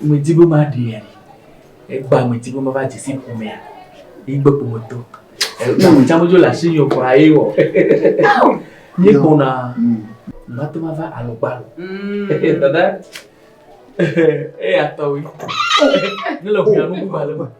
Medi be maɖee ali. Egbea medi be mava dze si ƒomea. Yigbe ƒometɔ. Tsa medzo le asi nyo kura ye wɔ. Nye kpɔna. Mate ma va alɔgbalo. Dada. Eya tɔwe. Ne le ʋuya nubu ba le me.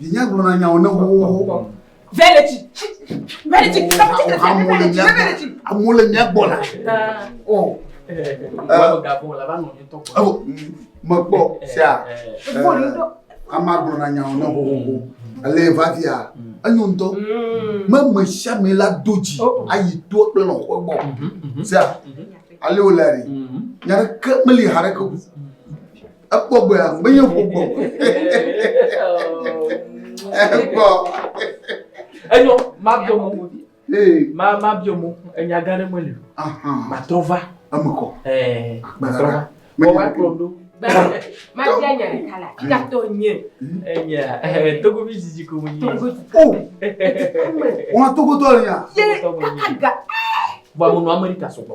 Vinye gblɔna nyawo ne xoxoxo. Veleti. Veleti. Amewo le mía gbɔ la. O. Mekpɔ sia. Ama gblɔna nyawo ne xoxoxo. Ale va via. Enyo ŋutɔ. Me me sia me la do dzi. Ayi to kple lɔ̃xɔ gbɔ. Sia. Ale wòle. Nya ɖeke meli ha ɖeke. Ekpɔ gbɔ ya, menye ƒo gbɔ. Ekpɔ. Enyo, ma bio mo. Ma ma bio mo, enya gã ɖe meli. Ma trɔ va. Eme kɔ. Eh, ma trɔ va. Mo wa kplɔ do. Ma dia nya le kala. Kika to nye. Enya, eh, togo bi zizi ko nye. Togo. Oh. Wa togo to nya. Ye, kaka ga. Ba mo no Amerika so gbɔ.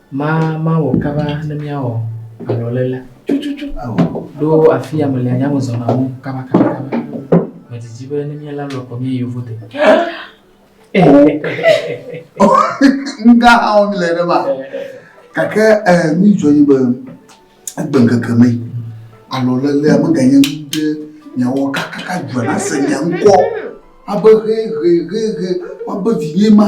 Ma mawɔ kaba ne míawɔ alɔléle. Tututu awɔ. Ɖo afia mele nya me zɔna mɔ kabakabakaba. Medidi be ne míela lɔ kɔ míayi yovo de. Nga awɔ mi le ɖe ma. Gake eh, mi dzɔ yi be egbe ŋkeke me alɔlelea meganye nu ɖe miawɔ kakaka dzɔna se mia ŋkɔ abe hehehehe woabe vinye ma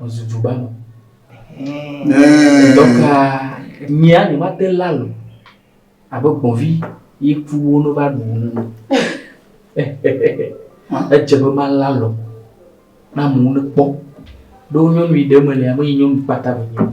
Wòzu du gbanu. Dɔka nyia ni ma te la lo. Abe gbɔvi yi ku wo no va ɖu ne no. Edze be ma la lo. Na mo ne kpɔ. Ɖo nyɔnu yi ɖe me le ame yi nyɔnu kpata be nyɔnu.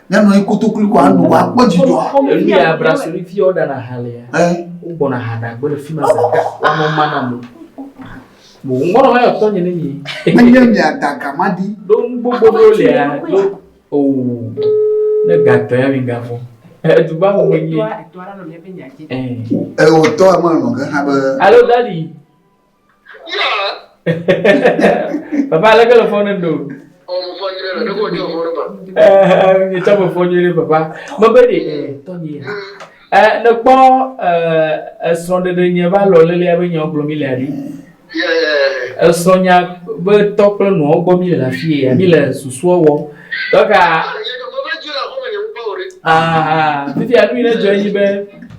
Nenɔ anyi kotokli ko ano wa kpɔ dzidzɔ. Emi ya brasoli fi o dana halia. Eh. O gbɔna hada gbɔ le fi ma zaka. Amo mana mo. Mo ngɔnɔ ma yɔ tɔ nye ne mi. Ne nye mi ada gama di. Do gbogbo do le ya. Do. Oh. Ne gatɔ ya mi gafɔ. Eh du ba mo nyi. Eh. Eh o tɔ ma no ke ha be. Alo dali. papa aleke le fɔ ne do nyetsɔ me fɔ nyuie papa mebe ɖe tɔnye ne kpɔ esrɔ̃ɖeɖe nye va lɔ lele abe nyawo gblɔ mi le aɖi esrɔ̃nya be tɔ kple nɔwo gbɔ mi le le afi ya mi le susua wɔ dɔka fifia nu yi ne dzɔ enyi be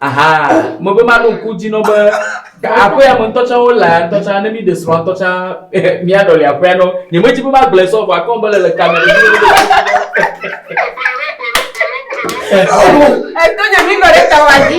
aha me be maɖo ŋku dzi nɔ be aƒea me ŋutɔ tsã wole ŋutɔ tsã ne mi ɖe srɔ̃ ŋutɔ tsã mia ɖɔli aƒea nɔ nye me dzi be magblɔ sɔ vɔ akɔn be le le kame ɖe mi eto nye mi nɔ ɖe tawa dzi.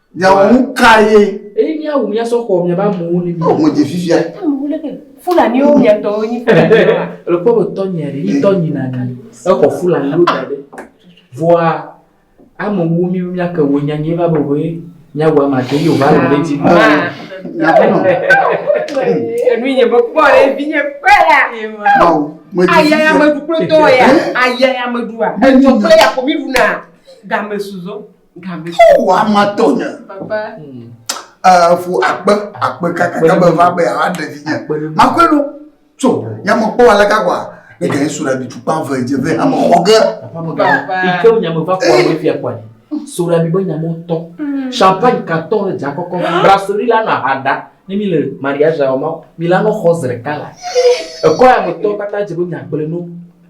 Nyawo ŋu ka ye? Eye míawu mía sɔ xɔ miaƒe amewo ne mi. Ŋu dzi fifia. Fulaniwo mia tɔwo nyi fulaniwo. Le kpɔ be tɔ nyia ɖe, yi tɔ nyi na ɖe. Exɔ fulaniwo da ɖe. Vɔa ame wo mi mia ke wo nya nyi va be wo ye mia wa ma de yo va le ɖe dzi. Enu nye be kpɔ ɖe vi nye kpe la. Aya ya me du kple tɔ ya. Aya ya me du a. Etɔ kple ya ko mi du na. Game suzɔ. Wowɔ ame atɔ nye. Papa. Efu eh, akpe akpe kaka ke be va be awa ɖe vi nye. Makwe ɖo. So, nyamekpɔ ale ka kwa. Ne gɛ sura bi tukpa ve dze ve ame xɔ ge. Papa. Ike nyame va kwa be fia kwa. Sura bi be nyame tɔ. Hmm. Champagne ka tɔ le dza kɔkɔ. Ah. Brasserie la na hada. Ne mi le mariage awo ma, mi la no xɔ zre kala. Ekɔ ya me tɔ kata dze be nyagble no.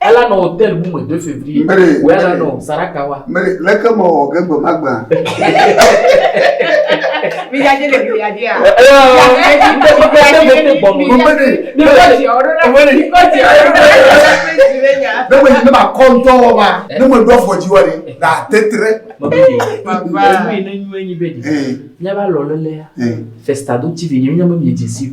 Ela nɔ hotel bu me de février. Mary. Wɛ la nɔ Saraka wa. Mary, leke mɔ wɔ ge gbe ma gba. Mi ya je le mi ya je a. Ne me yi ne ma kɔ ŋutɔ wɔ ma, ne me ɖɔ fɔ dzi wɔ ni, na tetre. Papa. Enu yi ne nyuie nyi be di. Mía ba lɔ lele ya. Festa do TV nyi mi nya me mi dzi si.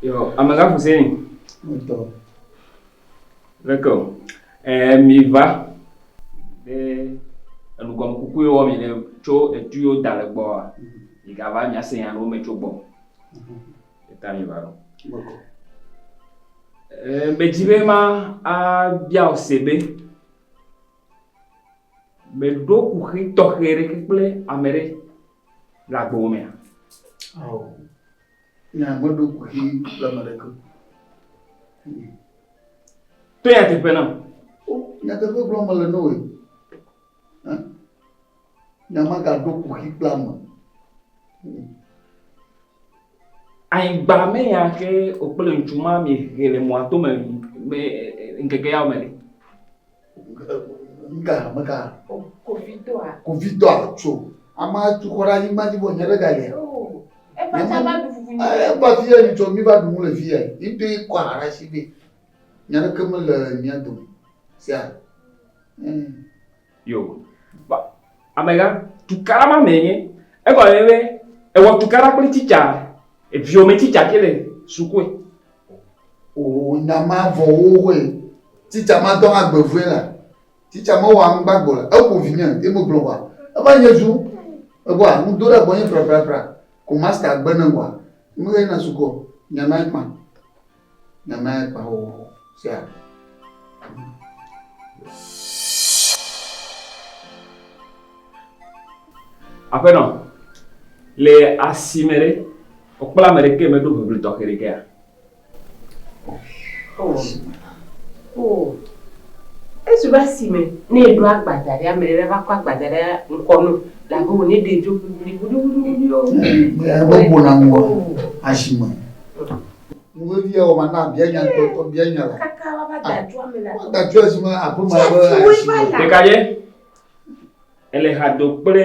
Yo, amega fuseni. Muito. Leke o, ɛɛ mìva be enugɔmekuku ye wɔ mì le tso etu ye woda le gbɔa, mìgava nya se nya ɖewo me tso gbɔ. Eta mìva ɖo. Ɛɛ medi be mabia wò se be, mèɖo kuxi tɔxɛ ɖeke kple ame ɖe le agbewò mea? Ao. Nya meɖo kuxi le me ɖeke. To ya teƒe na. Nyateƒe gblɔm mele ne wòe. Nya magaɖo kuxi kple ame. Anyigba me ya ke wòkple ŋutsu ma mi he le mɔa to me ŋkeke yawo me le. Ga mega. Kovitɔa. Kovitɔa tso. Ama tu xɔ ɖe anyigba dzi vɔ nye ɖe ga yɛ. Eƒe tsa va ɖu fufu nye. Eƒe fi yɛ nitsɔ mi va ɖu nu le fi yɛ. Yi do yi kɔ aha ɖe asi be nya ɖeke mele mía dome. Sia. Yo. Ba amega tukara ma me nye. Egɔ le be ewɔ tukara kple titsa. Eviome titsa ke le sukue. O nya ma vɔ wo hoe. Titsa ma dɔ hã gbe vue la. Titsa ma wɔ aŋgba gbɔ la. Eƒo vi nye, ye mo gblɔ wa. Eva nye zu. Ego a, ŋu do ɖe gbɔ nye fra fra fra. Ko masta gbe ne wa. Ŋu ye na suku ɔ. Nya ma ekpa. Nya ma ekpa o. Sia. Aƒenɔ, le asime ɖe, Wokpla ame ɖekee meɖo ʋeʋli tɔxɛ ɖekea? Oo. Oo. Esi va si me ne eɖo agbadza ɖe, ame ɖe va kɔ agbadza ɖe ŋkɔ no, labe wò ne ɖe dzo ʋliʋli ʋliʋliʋli o. Ebe ƒo na ŋua asi me. Nu vevi awɔ ma na bia nya ŋutɔtɔ bia nya la. Kaka wava da dzo ame la. Wada dzo asi me aƒe ma be asi me. Ɖeka ye ele ha do kple.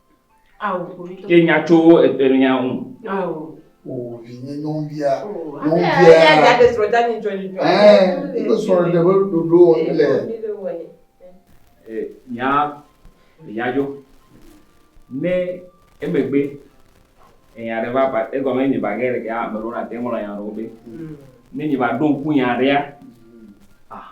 Ke nya tso etelia ŋu. O vinye nyɔnuvia. Nyɔnuvia. Eya de srɔ̃ dani dzɔ ni dzɔ. Ɛɛ ibe srɔ̃ ɖe be ɖoɖo wɔm le. Nya nya dzo. Ne emegbe enya ɖe va ba egɔme nye ba ge ɖe ke ame ɖewo na te ŋlɔ nya ɖewo be. Ne nye ba ɖo ŋku nya ɖea. Ah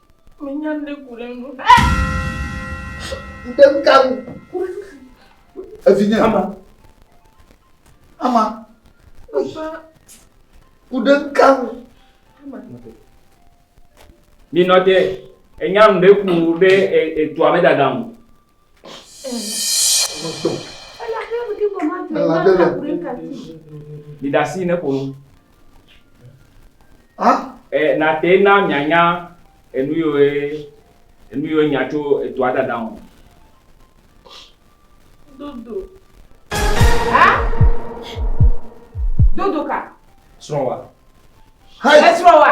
Menya ne ku ɖe nu. Ŋde ka nu. Evinye. Ama. Ama. Papa. Ku ɖe ka nu. Ama. Minɔ te. Enya ŋde ku be etua me dada ŋu. Miɖe asi ne ƒo nu. Eh, na te na mianya enu yiwo enu yiwo nya tso etoa dada ŋu. Dodo. Ha? Dodo ka? Srɔ̃wa. Esrɔ̃wa.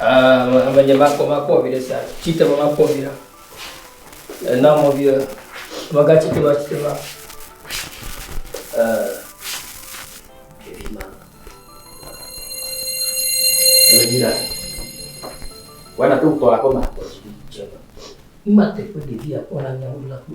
Amenye makpɔ makpɔ vi ɖe sia tsitre me makpɔ vi ɖa ena mɔ vi ɖa mega tsitre ma tsitre ma ɖevi ma ele vi ɖa wɔna to tɔ aƒe ma kpɔ si dze ma ma te ƒe ɖevi akpɔ na nyawo la kpɔ.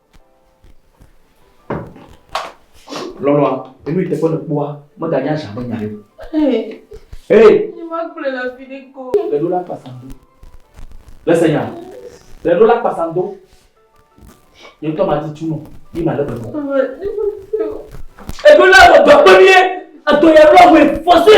Lɔlɔ̃a, enu yi teƒe nèkpɔa, meganye azã me nya ɖe o. Hee! Ne magblɔe le afi ɖe ko. Le ɖo la kpasam do. Le se nya? Le ɖo la kpasam do. Nye ŋutɔ madi tu nɔ, ye malé be nɔ. Eɖo la wɔ dɔ kpe mí ye. Edɔ ya lɔ wɛ fɔse.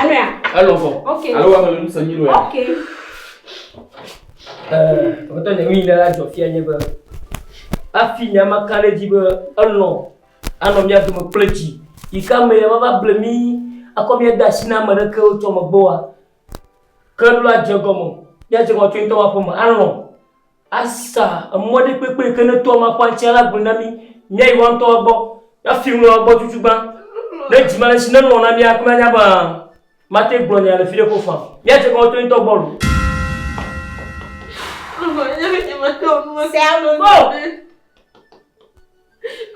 Alea. Alo fɔ. Ok. Alo wa mele nusa nyi loya. Ok. Ɛɛ wotɔ ne mi nana jɔ fia nye be afi nya ma ka ɖe dzi be elɔ anɔ mia dome kple dzi yi ka me ya va ble mi akɔ mia de asi na ame ɖeke wotsɔ megbe wa ke ɖo la dze gɔme mia dze gɔme tso ŋutɔ wa ƒe me alɔ Asa emɔ ɖi kpekpe ke ne toa makpɔ aŋtsia la gblɔe na mí míayi woa ŋutɔa gbɔ na fi ŋlɔa gbɔ tutu gbã. Ne dzi male si nelɔ̃ na mía kple anya be mate gblɔ nya le fi ɖe ko fã. Míadze kɔ to ŋutɔ gbɔ loo. Mama, nye me nye mate wɔ nu ma. Sɛ alo nɔ be.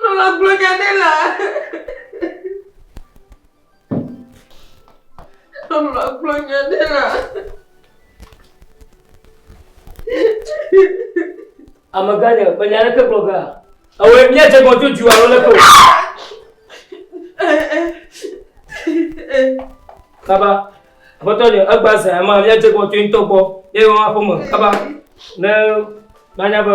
Lolo gblɔ nya ɖe la. Lolo gblɔ nya ɖe la. Amegã nye, me nya ɖeke gblɔ gã. Ewe mia dze gbɔ tso dua lolo ko. Kaba, aƒetɔ nye, egba zã ma mia dze gbɔ tso ŋutɔ gbɔ. Ye wɔn aƒeme kaba. Ne manya be